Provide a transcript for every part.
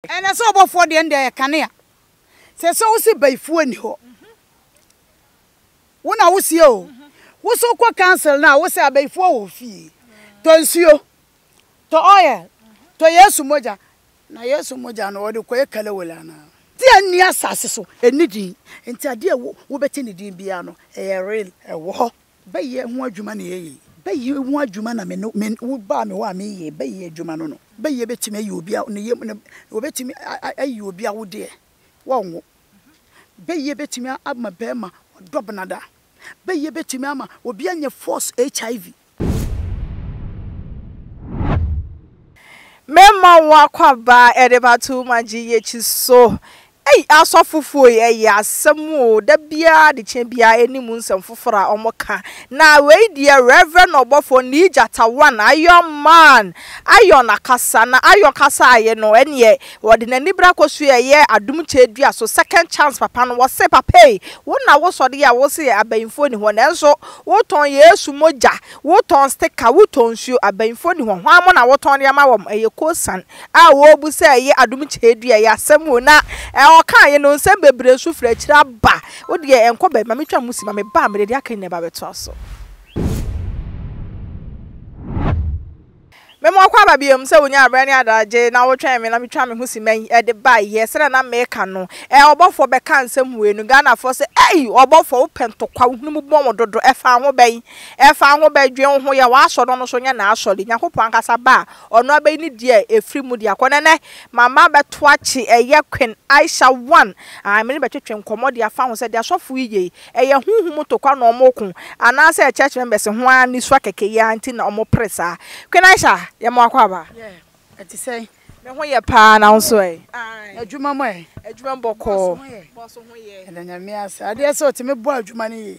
Ɛnɛ sɛ ɔbɔfoɔ deɛ ɛnde ɛyɛ kanea sɛ sɛ wose bayifuo nni hɔ wo na wosie o wo so kɔ council no a wose abayifuo wɔ fie tɔ nsuo tɔ oil tɔ yesu mogya na yesu mogya no wɔde kɔyɛ kalawole anaa. Ti a nni asase so nni din nti adeɛ a wobɛte ne din biara no ɛyɛ real ɛwɔ hɔ. Bɛyɛ ho adwuma na eye. Bɛyɛ ho adwuma na me no me no wo baa me hɔ a me yɛ bɛyɛ adwuma no no. Bɛyɛ bɛtumi ayi obi a ne yam ne wɔbɛtumi ayi obi awodeɛ wɔ nwo. Bɛyɛ bɛtumi ama bɛɛma ɔdɔ benada. Bɛyɛ bɛtumi ama obi anya false HIV. Mɛma wo akɔ abaa ɛde ba too much yɛ kyi so Ei asɔfofo yi ɛyɛ asɛm o da biara adekyɛ biara ɛni mu nsɛm foforɔ a ɔmo ka na wei deɛ Rev ɔbɔfoɔ nii gyata one iron man iron akasa na iron kasa aye no ɛneɛ ɔde nani bra kɔ so ɛyɛ adom kyɛ dua so second chance papa no wɔse papa ei wo na wo sɔre yɛ a wo se abayinfoɔ ni hɔ nanso wo tɔn yesu mogya wo tɔn sticker wo tɔn nsuo abayinfoɔ ni hɔ hwan mo na wo tɔn de ama wɔn ɛyɛ kosan a ɔɔbu sɛ ɛyɛ adom kyerɛdua yi asɛm o na ɔɔkaa yɛ no nsɛm bebree nso firi akyire aba. Wo deɛ ɛnkɔ baabi ma me twa mo si ma me ba a me de deɛ aka nyinaa ba bɛ toa so. Me ma ɔkɔ aba biom sɛ ɔnya aberɛ ne adagye na wo twɛn me na me twa me ho si ma yi ɛde ba yɛ sɛdeɛ na me ka no ɛ ɔbɔfoɔ bɛ ka nsɛm wei no Ghanafoɔ sɛ ei ɔbɔfoɔ wo pɛ ntɔkwa wo hunu mu bɔn wo dodo ɛfa ho bɛn ɛfa ho bɛn dwen wo ho yɛ w'asɔre no ɔno nso nyɛ n'asɔre Nyankopɔn ankasa ba a Ɔno abɛyi ne deɛ ɛfiri mu de akɔ. Nɛnɛ, mama abɛto akye ɛyɛ Queen Aisha one a me ne bɛtwetwe nkɔmmɔ de afa ho sɛ deɛ asɔfo yi yɛ yi, ɛyɛ honhom mu tokwa na wɔko anaasɛ church members ho ara nisuwa kɛkɛ yi ara nti na wɔpere saa. Queen Aisha, yɛma wo akwaaba. Yeah, ɛte sɛn? Me ho yɛ paa, na wo nso ɛ? Aye. Adwuma mu ɛ? Adwuma mu bɔkɔɔ. Boss ho yɛ? Boss ho yɛ. Yɛda Nyame ase. Adeɛ sɛ ɔte, mebɔ adwuma no yie.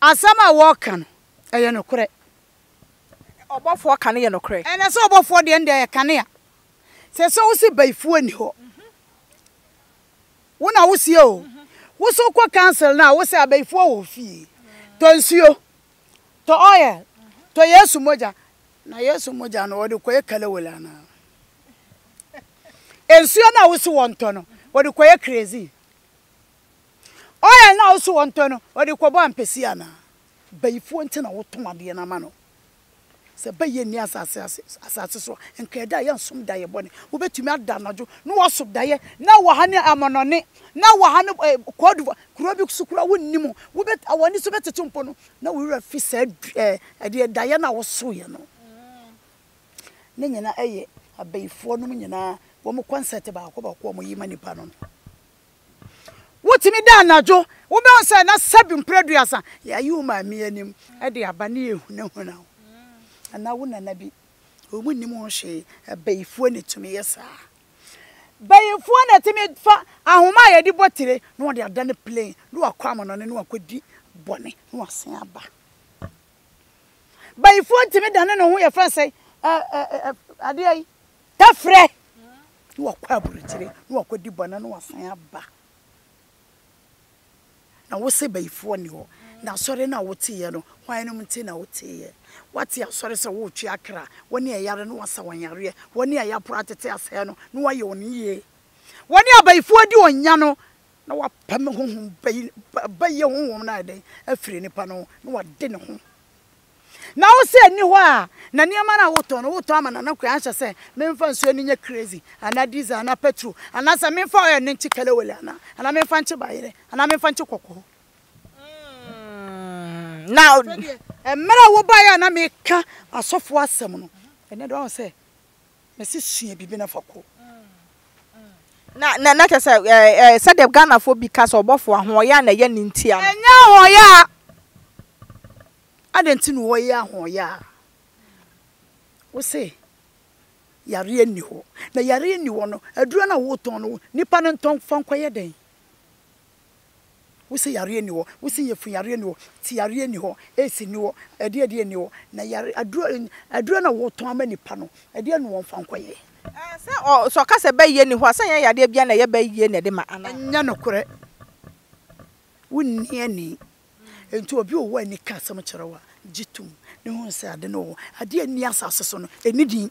Asɛm a wɔka no, ɛyɛ nokorɛ. Ɔbɔfoɔ ka no yɛ nokorɛ. Ɛnɛ sɛ ɔbɔfoɔ deɛ ɛnde ɛyɛ kanea. Sɛ sɛ wo se bayifuo nni hɔ. Wo na wo seɛ o. Wo so kɔ council no a wo se abayifuo wɔ fie. Tɔ nsuo. Tɔ oil. Tɔ Yesu mogya. Na Yesu mogya no wɔde kɔyɛ kalawole anaa? Nsuo no a wo se wɔntɔ no wɔde kɔyɛ kerosene. Oil no a ɔse wɔntɔ no ɔde kɔbɔ ampesi anaa? Bayifoɔ nti na wotɔn adeɛ no ama no. Sɛ bayie nni asase ase asase so a nka ɛda a yɛnsom daeɛ bɔne. Wobɛtumi ada anadwo na woaso daeɛ na ɛwɔ ha ne Amonɔne na ɛwɔ ha ne Côte d'Ivoire kuro bi so koraa wonnim wobɛ w'ani so bɛtete mpo no na wo werɛ afi saa ɛdeɛ daeɛ no a wosoeɛ no. Ne nyinaa ɛyɛ abayifoɔ nom nyinaa wɔn concept baako baako a wɔyi ma nnipa no no. Wotumi da anadwo, wobɛhu sɛ na sɛbi mprɛduasa yɛayi wo maame anim de aba ne yɛhunahuna wo. Anaa wo nana bi, wɔn nnim ho hwee, abayifoɔ na ɛtumi yɛ saa. Bayifoɔ na ɛtumi fa ahoma a yɛde bɔ tire na wɔde ada no plain na wakɔ amonɔne na wakɔdi bɔne na wasen aba. Bayifoɔ tumi dane ne ho yɛfrɛ sɛ adeɛ yi, tɛfrɛ. na wakɔ aburukyire na wakɔ di bɔne na wasan aba na wosɛ bayifoɔ nni hɔ na asɔre no a woteeɛ no hwan nom nti na woteeɛ wate asɔre sɛ woretwe akra wɔn ne ɛyare no wasa wɔn yareɛ wɔn ne ayaporo atete asɛe no na wayɛ wɔn yie wɔn ne abayifoɔ di ɔnya no na wapam honhom bayi bayɛ honhom no ayɛ dɛn afiri nipa no na wade ne ho Na wo sɛ nni hɔ a na nneɛma no a wotɔn no wotɔn ama nana kura anhyɛ sɛ menfa nsuo no nyɛ crazy anaa diesel anaa petro anaa sɛ menfa oil no nkye kelewele anaa anaa menfa nkye bayerɛ anaa menfa nkye kɔkɔɔ mm, na mmerɛ a wobaeɛ a na meka asɔfoɔ asɛm no ɛnɛ de wahu sɛ Mese sua biribi na fa kɔ. Na na na kyɛ sɛ ɛɛ ɛɛ sɛdeɛ Ghanafoɔ bi ka sɛ ɔbɔfo ahoɔyaa na ɛyɛ ne ntia no. Ɛnyɛ ahoɔyaa. Adɛn nti na wɔyɛ ahoɔyaa? Wose yareɛ nni hɔ. Na yareɛ nni hɔ no, aduro no a woretɔn no, nnipa no ntɔ mfa nkɔyɛ dɛn? Wo se yareɛ nni hɔ, wo se yafunu yareɛ nni hɔ, tiareɛ nni hɔ, AC nni hɔ, ɛdeɛ ɛdeɛ nni hɔ, na yare aduro aduro na wotɔn ama nipa no ɛdeɛ na wɔnfa nkɔ yɛ. Ɛɛ sɛ ɔ sɛ ɔka sɛ bɛ yie nni hɔ a, sɛ ɛnyɛ yadeɛ biara na ɛyɛ bɛ yie na ɛde ma anaa? Ɛnyɛ nokorɛ, wo nni ani, nti obi ɔwɔ ani ka asɛm kyerɛ wo a, gye tom na hunu sɛ ade no wɔ hɔ, adeɛ a ɛnni asase so no ɛnni din.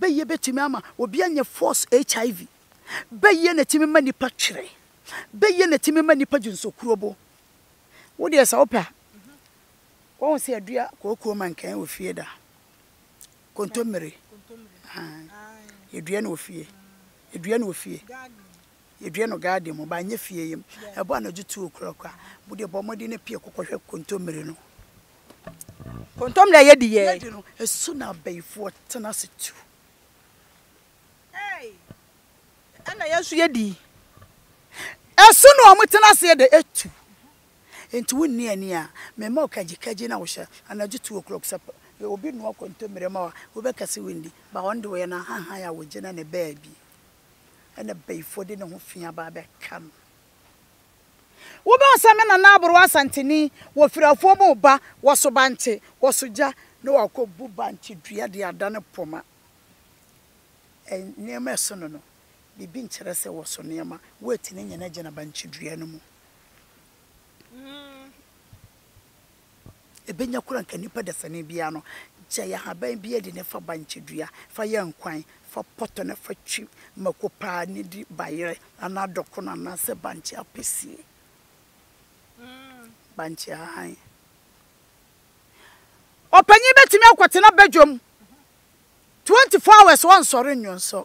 Bɛyɛ bɛtumi ama obi anya force HIV. Bɛyɛ na ɛtumi ma nipa twerɛ. Bɛyɛ na ɛtumi ma nipa gye nsokurobo. Wo deɛ sɛ wopɛ a, woahu sɛ yɛdua kookoo mankan wɔ fie da. Kontommire. Aane. Yɛdua no wɔ fie. Yɛdua no wɔ fie. Yɛdua no garden mu, but ɛnyɛ fie yam. Ɛbɔ anadwo two o'clock a, wo deɛ bɔ mmɔden na pue kɔkɔhwɛ kontommire no. Kontomire a yɛdi yɛ. Yɛdi no, ɛso na abayifoɔ tena ase tu. Ei, ɛna yɛn nso yɛdi. Ɛso na wɔn tena aseɛ de tu. Enti wo nni ani a, me mma wo kagyikagyi na wo hyɛ anadwo two o'clock sɛ obi noa kontomire ma wo a, wo bɛka sɛ wo nni. Ba wɔn de wɔyɛ no ahahan a wɔgyina ne baabi. Ɛna bayifoɔ de ne ho fi aba abɛka no. Wobɛhu sɛ me nana aborowa Asanteni wɔ Firafoɔ mu reba wɔ Sobante, wɔ Sogya na wakɔbu bankye dua de adane poma. Nneɛma a ɛsono no, biribi nkyerɛ sɛ wɔso nneɛma. Wɛɛti no nyinaa gyina bankye dua no mu. Ebenya koro anka nipa dasani biara no, gyae ahaban biara di na fa bankye dua, fa yɛ nkwan, fa pɔtɔ na fa twi mako paa na di bayerɛ anaa dɔkono anaasɛ bankye apesie. Bankye hann. Ɔpanyin betumi akɔtena badwam 24 hours ɔnsɔre nnwonsɔ.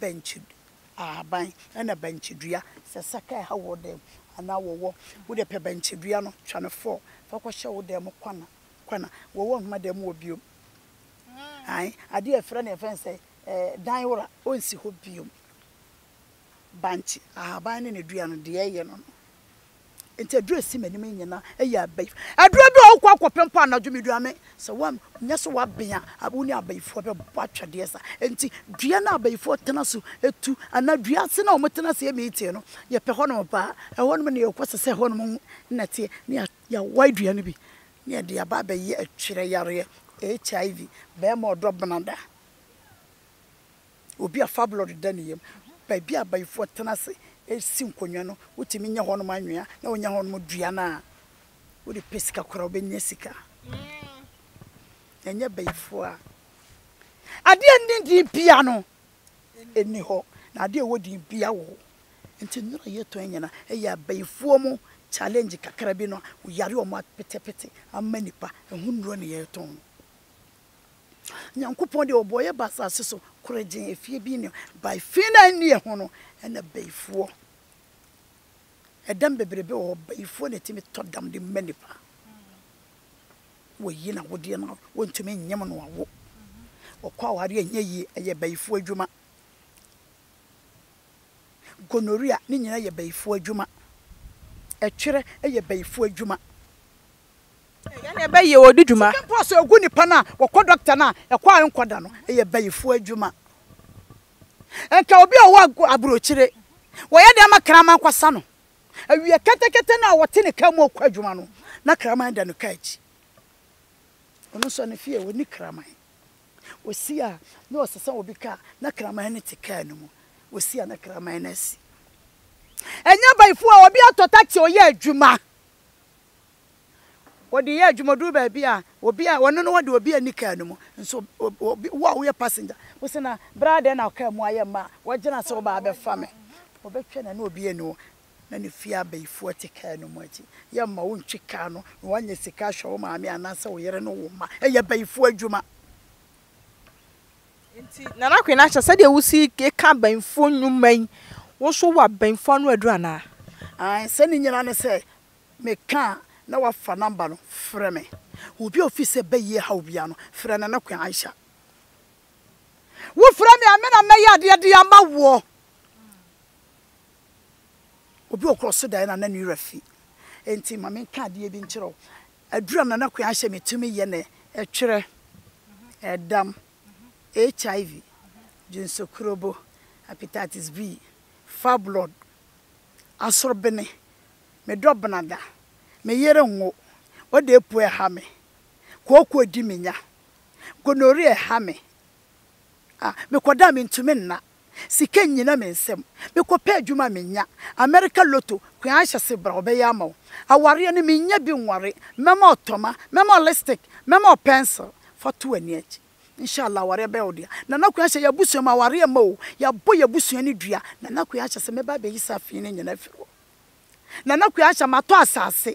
bankye ahaban na bankye dua sɛ saka ɛha wɔ dan mu anaa wɔwɔ wode pɛ bankye dua no twa no fɔɔ fa kɔ hyɛ wo dan mu kwana kwana wɔwɔ nhoma dan mu wɔ biom ae adeɛ ɛfrɛ ne ɛfɛn sɛ ɛɛ dan wora ɔnsi hɔ biom bankye ahaban ne ne dua no deɛ ɛyɛ no no. Enti aduru a esi m'anim yi nyinaa yɛ abayi. Aduru bi a wokɔ akɔpɛ mpo anadwo midua me. Sɛ woanyɛ sɛ woaben a, wo ne abayifoɔ bɛbɔ atwɛdeɛ saa. Enti dua no a abayifoɔ tena so tu anaa dua ase no a wɔtena ase yɛ meeting no, yɛpɛ hɔnom paa. Ɛhɔnom na yɛkɔ sɛ sɛ ɛhɔnom na ɛteɛ na yɛawae dua no bi na yɛde aba abɛyɛ twerɛyareɛ, HIV, bɛrima ɔdɔ benada. Obi a fabulɔ deda ne yam. Baabi a abayifoɔ tena ase si nkonnwa no, wotumi nya hɔnom anwea na wonya hɔnom dua no a, wode pɛ sika koraa a, wobɛnya sika. Ɛnyɛ abayifoɔ a adeɛ a ɛnni din biara no nni hɔ, na adeɛ a ɛwɔ din biara wɔ hɔ. Nti nnuro a yɛtɔn yi nyinaa yɛ abayifoɔ mu challenge kakra bi no a, wɔyare wɔn apetepete ama nnipa. Ɛho nnuro na yɛtɔn. Nyankopɔn deɛ ɔbɔɔ yɛ ba asase so korɛgyee ɛfie bi nneɛma by fi na ɛnni ɛho no ɛna bayifoɔ ɛdam bebrebe wɔ hɔ bayifoɔ na ɛtumi tɔ dam de ma nipa wɔyi na wodeɛ no wɔntumi nyem no awo ɔkɔ aware ɛnyɛ yie ɛyɛ bayifoɔ adwuma gonorrhea ne nyina yɛ bayifoɔ adwuma ɛtwerɛ ɛyɛ bayifoɔ adwuma Yɛne bayi ɔdi dwuma. Sika mpo a sɛ ɔgu nipa no a wɔkɔ dɔkta no a ɛkɔ a ɛnkɔ da no yɛ bayifoɔ adwuma. Nka obi a ɔwɔ aburokyire, wɔyɛ dɛn ma kraman kɔsa no? Awia kɛtɛkɛtɛ no a ɔte ne kaa mu ɔkɔ adwuma no na kraman da ne kaa akyi. Ɔno nso ne fie ɔnni kraman. Ɔsi a na ɔsesa obi kaa na kraman no te kaa no mu. Ɔsi a na kraman no asi. Ɛnyɛ bayifoɔ a obi atɔ taxi ɔyɛ adwuma. Wɔde yɛ adwuma duru baabi a obi a wɔne no wɔ deɛ obi ani kaa no mu nso obi wo a woyɛ passenger wo se na bra adɛn na ɔkaa mu ayɛ mma a wɔgyina sɛ wobaa bɛfa me wɔbɛtwɛn na na obi ani wo na ne fie abayifoɔ te kaa no mu akyi yɛ mma wontwi kaa no na woanya sika ahwɛ wo maame anaasɛ wo yere ne wo mma ɛyɛ abayifoɔ adwuma. Nti Nana Kwenakyɛ sɛdeɛ wosi ka abɛnfoɔ nnwuma yi, wo nso wowɔ abɛnfoɔ ano aduru anaa? Aane, sɛ ne nyinaa ne sɛ me ka a na wafa number no frɛ me. Obi a ofi sɛ bɛyie haw biara no, frɛ Nana Kwe Aisha. Wo frɛ me a me na mɛyɛ adeɛ de ama woɔ. Obi a ɔkɔ so daeɛ no a na ne werɛ fi. Nti ma me nka adeɛ bi nkyerɛ wo. Aduru a Nana Kwea hyɛ me tumi yɛ ne ɛtwerɛ, ɛdam, HIV, dwonsokrobo, hepatitis B, fibroid, asorbene, me dɔ benada, me yere nwo, ɔde apuo ɛha me, kooko edi me nya, gonorrhea ɛha me, ah, me kɔda a mentumi nna. Sika nnyina me nsam. Mekɔpɛ adwuma a mennya. Amerika Lotto, koe ara hyɛ ase bra, wɔbɛyɛ ama wo. Awareɛ no, mennya bi nware. Mɛma wo tɔma, mɛma wo lipstick, mɛma wo pencil. Fa to w'ani akyi. Inshallah awareɛ bɛyɛ wo dea. Nana Kwei Ahyɛ, y'abusua mu awareɛ mma oo. Y'abɔ y'abusua no dua. Nana Kwei Ahyɛ sɛ mɛba abɛyi saa fii no nyina afiri hɔ. Nana Kwei Ahyɛ, matɔ asase.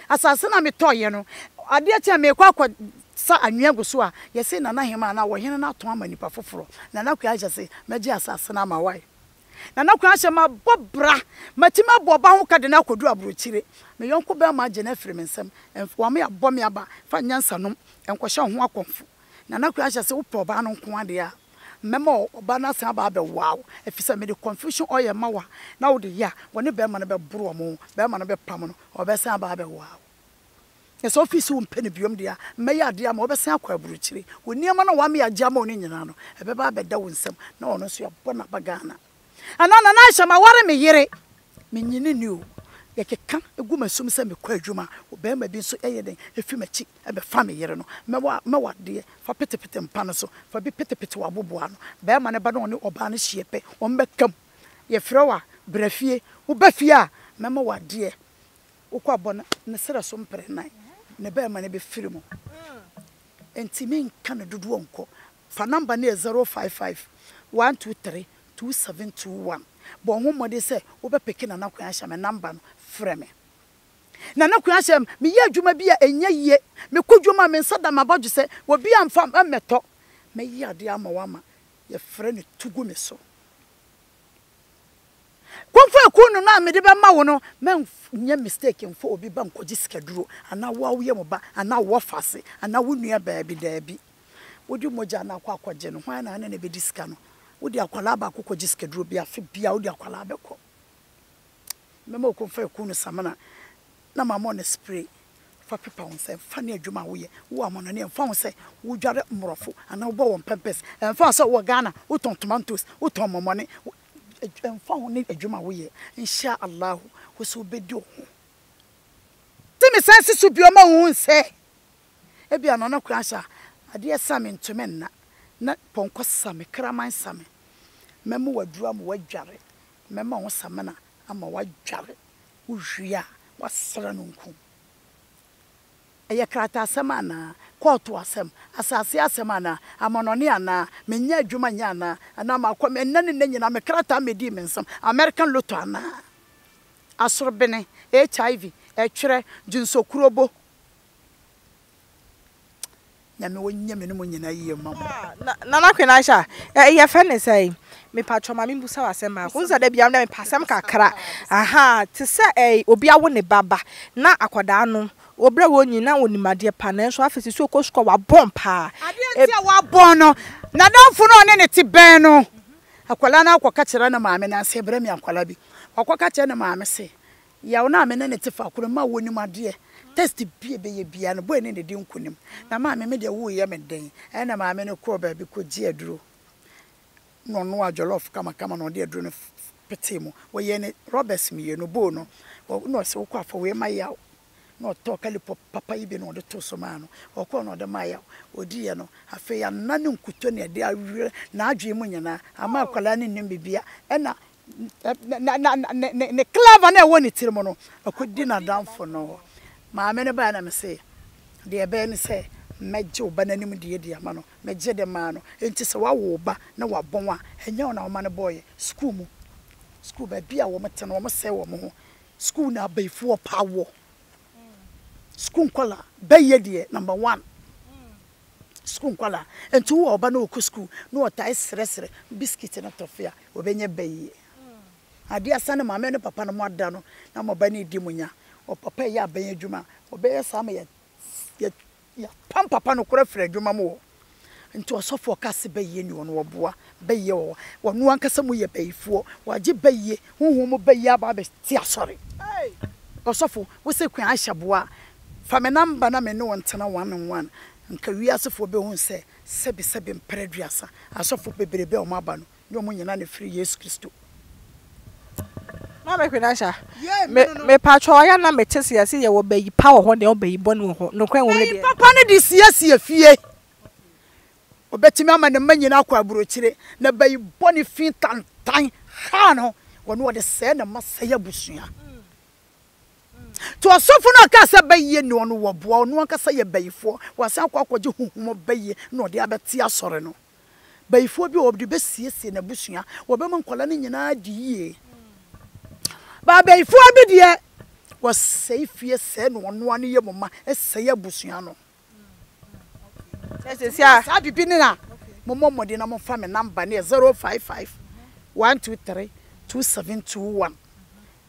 Asase no a metɔeɛ no, adeɛ kye a merekɔ akɔsa anwea agu so a, yɛ se Nana Hemaa anaa ɔhene no atɔn ama nipa foforɔ. Nana Kwei ahyɛ se mɛgye asase no ama wae. Nana Kwei ahyɛ mabɔ bra, matumi abɔ ɔba ho ka de no akɔduru aburokyire. Me yɔnko barima agye no afiri me nsam. Ɛmf, wame abɔ me aba, fa nyansa nom, ɛnkɔhyɛ wo ho akɔmfo. Nana Kwei ahyɛ se wopɛ ɔbaa no nko ara deɛ a. Mɛma ɔbaa no asan aba abɛwoa wo, efisɛ mede confusion oil ma wo a, na wode yɛ a, wɔne barima no bɛboro wɔn ho, barima no bɛpam no, ɔbɛsan aba abɛwoa wo. Na sɛ ofi so wompɛ no biom de a, mɛyɛ ade ama wo, wobɛsan akɔ aburokyiri. Wo nneɛma no a wamea gye ama wo no nyinaa no, ɛbɛba abɛda wo nsam, na ɔno nso yɛabɔ no aba Ghana. Anaa Nana Aisha maware me yere. Menye no nni o. Yɛkeka gu m'asom sɛ mekɔ adwuma, ɔbarima bi nso yɛ dɛn fi m'akyi bɛfa me yere no. Mɛ w'adeɛ, fa petepete mpa no so, fa bi petepete w'aboboano. Barima no ba na ɔne ɔbaa no hyia pɛ, wɔbɛka mu. Yɛfrɛ wo a, bra fie. Woba fie a, mɛma wo adeɛ. Wokɔ a, bɔ ne serɛ so mprɛ nnan, ne barima no bɛfiri mu. Enti menka no dodoɔ nkɔ. Fa nɔmba no yɛ zero five five one two three two seven two one. Bɔ ho mmɔden sɛ wobɛpeke Nana Kweahyɛ me nɔmba no frɛ me. Nana Kweahyɛ, meyɛ adwuma bi a ɛnyɛ yie. Mekɔ dwom a, me nsa da m'abɔdwesɛ. Obiara mfa mmɛtɔ. Mɛyɛ adeɛ ama wo ama yɛfrɛ no tu gu me so. Kɔmfɔ akuunu no a mede bɛma wo no. Manyɛ mistake mfa obi ba nkɔgye sikaduro anaa wo ara woyɛ mo ba anaa wo wɔfa ase anaa wo nua baabi, daabi. Wode mogya no akɔ akɔgye no, hwan na ɛne no bɛdi sika no? Wode akwadaa baako kɔgye sikaduro bi, afe biara wode akwadaa bɛkɔ. Mɛma wo kɔmfa akuo no samina na mamɔ no spray fa pepa wo nsa, ɛmfa ne adwuma a woyɛ, wowɔ amanɔne, ɛmfa ho sɛ wodware mmorɔfo anaa wobɔ wɔn pɛmpɛs, ɛmfa ho sɛ wowɔ Ghana, wotɔn tomantos, wotɔn mɔmɔne, ɛmfa ho ne adwuma a woyɛ, Insha Allahu, wo nso wobɛdi wo ho. Tumi san si so bio ma wohu sɛ. Ebia na ɔno koraa hyɛ a, adeɛ sa me ntumi nna, na pɔnkɔ sa me, kraman sa me. Mɛma waduru ama wadware, mɛma wo samina ama wadware. Wowie a, woasra no nku. Ɛyɛ krataasɛm anaa? Kɔɔto asɛm? Asase asɛm anaa? Amanɔne anaa? Mennya adwuma nyɛ anaa? Anaa makɔ me ɛnnɛ ne nnɛ nyinaa me krataa mmɛdii me nsam? American Lotto anaa? Asorbene, HIV, ɛtwerɛ, dwensɔkurobo. Nyame wo nyɛ me ne mo nyinaa yie mma mo. Ah Nana Kwenasia eh yɛfrɛ no sɛn? Mepatrɔ ma me busa wo asɛm baako wohu sɛ da biara me pɛ asɛm kakra ahaa te sɛ eh obi awo ne ba ba na akɔdaa no wɔbrɛ wɔ nyin na wɔnim adeɛ pa nanso afei sisi ɔkɔ sukuu a wabɔn paa adeɛ nti a wabɔn no nadamfo no a ɔne ne te bɛn no akɔdaa no akɔ ka kyerɛ ne maame nansa ɛbrɛ me akɔdaa bi wakɔ ka kyerɛ ne maame se Yaw no a me ne no te faako no mma wonnim adeɛ. Test bi a ɛbɛyɛ biara no, boy no na ɛdi nkonim. Na maame, me deɛ woreyɛ me den. Ɛnna maame no kɔɔ baabi kɔgyee aduro, na ɔnoaa jollof kamakama na ɔde aduro no petee mu. Wɔyɛɛ no rɔbɛs mmienu, bowl no, na ɔse, wokɔ afa wei ma Yaw. Na ɔtɔɔ kalipɔp papa yi bi na ɔde too so maa no. Ɔkɔɔ na ɔde maa Yaw. Ɔdiiɛ no, afei anna ne nkutoo na ɛde awerɛ n'adwene mu nyinaa. Amma akwadaa no nnim biribiara. Ɛnna na na na ne ne clever na ɛwɔ ne tiri mu no akɔdi n'adamfo no hɔ maame no baeɛ na me se deɛ ɛbɛyɛ ne sɛ mɛgye wo ba no anim deɛ de ama no megye de maa no nti sɛ wawo wo ba na wabɔn a ɛnyɛ wo na woma no bɔeɛ sukuu mu sukuu baabi a wɔn te no wɔn sɛe wɔn ho sukuu na abayifoɔ pa wɔ sukuu nkɔla bɛyɛ deɛ number one sukuu nkɔla nti wo ɔba na ɔkɔ sukuu na ɔtae srɛsrɛ bisikiti no tɔfe a Wɔbɛnya bɛ yie. Adeɛ a sane maame ne papa no moada no na mo ba no redi mo nya. Wɔ papa yɛ aban adwuma a, wɔbɛyɛ saa ma yɛ yɛapam papa no koraa afiri adwuma mu hɔ. Nti ɔsɔfoɔ ka se bɛ yie ni hɔ no, wɔboa. Bɛ yie wɔ hɔ. Wɔno ankasa mu yɛ bayifoɔ. Wɔagye bɛ yie, honhom mu bɛ yie aba abɛte asɔre. Ɔsɔfo, wo se Queen Aisha boa a, fa me number na me ne wo ntena one on one. Nka wiasefoɔ bɛhunu sɛ Sɛbisɛbi mper aduasa asɔfo beberebe a wɔn aba no, nye wɔn nyina na firi Yesu Kristo. Maame Kwenasha, me, mepatwɔ ɔyɛ a na mete se yɛse yɛwɔ bayi pa wɔ hɔ ne ɔbayi bɔne wɔ hɔ, nokorɛ nwom no deɛ. Bayi papa no de siesie fie, ɔbɛtumi ama ne mma nyina akɔ aburokyire, na bayi bɔne fi tantan ha no, ɔno ɔde sɛɛ ne mma sɛe abusua. Nti ɔsɔfo no a ɔkaa sɛ bɛyɛ ne ɔno wɔ boa, ɔno ankasa yɛ bayifoɔ, wasan akɔ akɔgye honhom bɛyɛ na ɔde abɛte asɔre no. Bayifoɔ bi a ɔde bɛsiesie n'abusua, wɔbɛma nkwadaa no nyinaa adi yie. Baa bayifoɔ bi deɛ, wɔsɛe fie sɛe na ɔno ara ne yɛ mo ma, ɛsɛe abusua no. Sɛ sɛsi a. Saa bibi no a, mommɔ mmɔden na momfa me namba no yɛ 055 123 2721.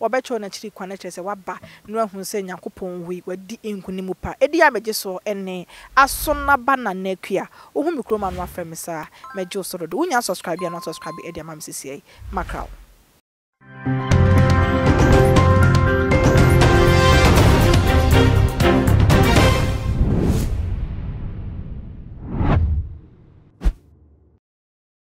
Wɔbɛkyerɛw n'akyiri kwan, kyerɛ sɛ waba, na wɔahu sɛ Nyankopɔn wui, wadi nkonim pa. Edi a megye soɔ ɛne, aso na ba na na akua, wohu me kurom a na wafrɛ me saa, mɛgye wo so dodo. Wo nya subscribe a na wasubscribe de ama me sesiɛ yi, makra wo.